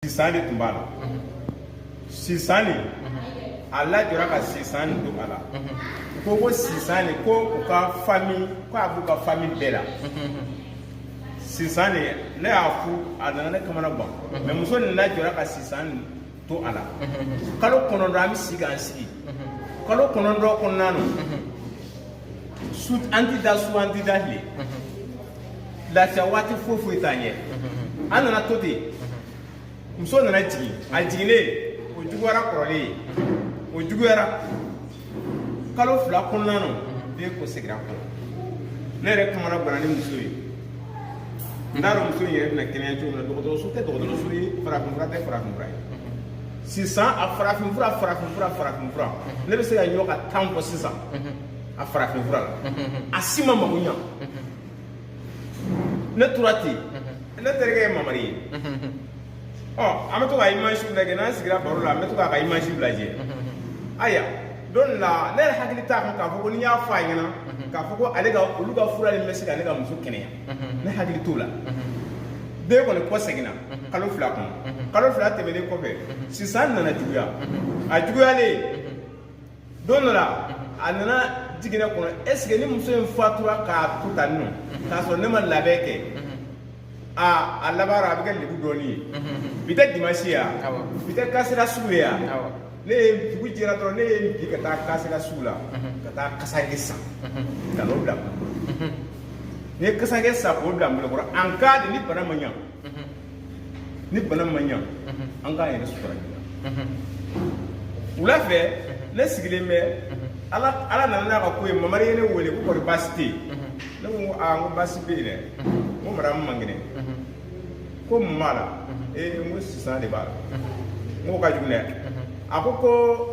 sisan de tun b'a la sisan nin a lajɔra ka sisan nin to a la u ko ko sisan nin ko u ka fami ko a b'u ka fami bɛɛ la sisan nin ne y'a fɔ a nana ne kamana gan mɛ muso nin lajɔra ka sisan nin to a la kalo kɔnɔntɔn an bɛ si k'an sigi kalo kɔnɔntɔn kɔnɔna na su an ti da su an ti da tile lafiya waati foyi foyi t'an ɲɛ an nana to ten muso nana jigin a jiginnen o juguyara kɔrɔlen ye o juguyara kalo fila kɔnɔna na den kɔ segira kɔ ne yɛrɛ kamana ganna ni muso ye n t'a dɔn muso in yɛrɛ bɛna kɛnɛya cogo min na dɔgɔtɔrɔso tɛ dɔgɔtɔrɔso ye farafinfura tɛ farafinfura ye sisan a farafinfura farafinfura farafinfura mhm. ne bɛ se ka ɲɔ ka tan fɔ sisan mhm. a farafinfura la mhm. a si ma mago ɲa ne tora ten ne terikɛ ye mamari ye ɔ an bɛ to ka image lajɛ n'an sigira baro la an bɛ to k'a ka image lajɛ aya don la ne yɛrɛ hakili t'a kan k'a fɔ ko n'i y'a fɔ a ɲɛna k'a fɔ ko ale ka olu ka fura in bɛ se ka ne ka muso kɛnɛya ne hakili t'o la den kɔni kɔ seginna kalo fila kɔnɔ kalo fila tɛmɛnen kɔfɛ sisan nana juguya a juguyalen don dɔ la a nana jigin ne kɔnɔ est-ce que ni muso in fatura k'a to tan nɔ k'a sɔrɔ ne ma labɛn kɛ a a laban na a bɛ kɛ lebu dɔɔni ye bi tɛ dimansi ya bi tɛ kasela sugu ye ya ne ye dugu jɛra dɔrɔn ne ye n bi ka taa kasela sugu la ka taa kasange san ka n'o bila ne kasange san k'o bila n bolo kɔrɔ en cas de ni bana ma ɲa ni bana ma ɲa an k'an yɛrɛ sutura joona wula fɛ ne sigilen bɛ ala ala nana n'a ka ko ye mamari ye ne wele ko kɔni baasi tɛ yen ne ko ko aa n ko baasi bɛ yen dɛ n ko madamu man kɛnɛ ko mun b'a la ee n ko sisan de b'a la n k'o ka jugu dɛ a ko ko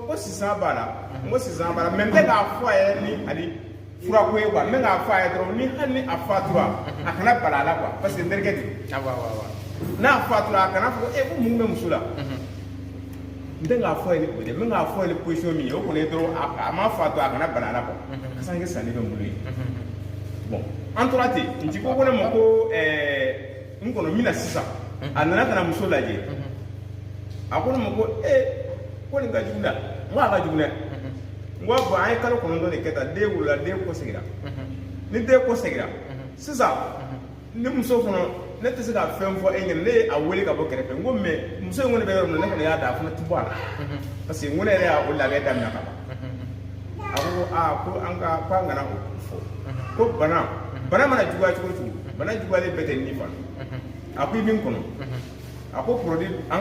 ko sisan b'a la n ko sisan b'a la mɛ n tɛ k'a fɔ a ye ni hali fura ko ye quoi n bɛ k'a fɔ a ye dɔrɔn ni hali ni a fatura a kana bala a la quoi parce que n terikɛ de ye awɔ awɔ awɔ n'a fatura a kana fɔ ko ee ko mun bɛ muso la n tɛ k'a fɔ a ye ni o tɛ n bɛ k'a fɔ a ye ni position min ye o kɔni ye dɔrɔn a a ma fatura a kana bala a la quoi kasange sannen bɛ n bolo yen bon an tora ten n teri ko ko ne ma ko ɛɛ n kɔnɔ n bɛ na sisan a nana ka na muso lajɛ a ko ne ma ko ee ko nin ka jugu dɛ n ko a ka jugu dɛ n ko bon an ye kalo kɔnɔntɔn de kɛ tan den wolola den kɔsegira ni den kɔsegira sisan ni muso fana ne tɛ se ka fɛn fɔ e ɲɛna ne ye a wele ka bɔ kɛrɛfɛ n ko mais muso in kɔni bɛ yɔrɔ min na ne kɔni y'a da a fana tɛ bɔ a la parce que n ko ne yɛrɛ y'a o labɛn daminɛ ka ban a ko aa ko an ka ko an kana o fɔ ko bana bana mana juguya cogo o cogo bana juguyalen bɛɛ tɛ ni fana a ko i bɛ n kɔnɔ a ko produit an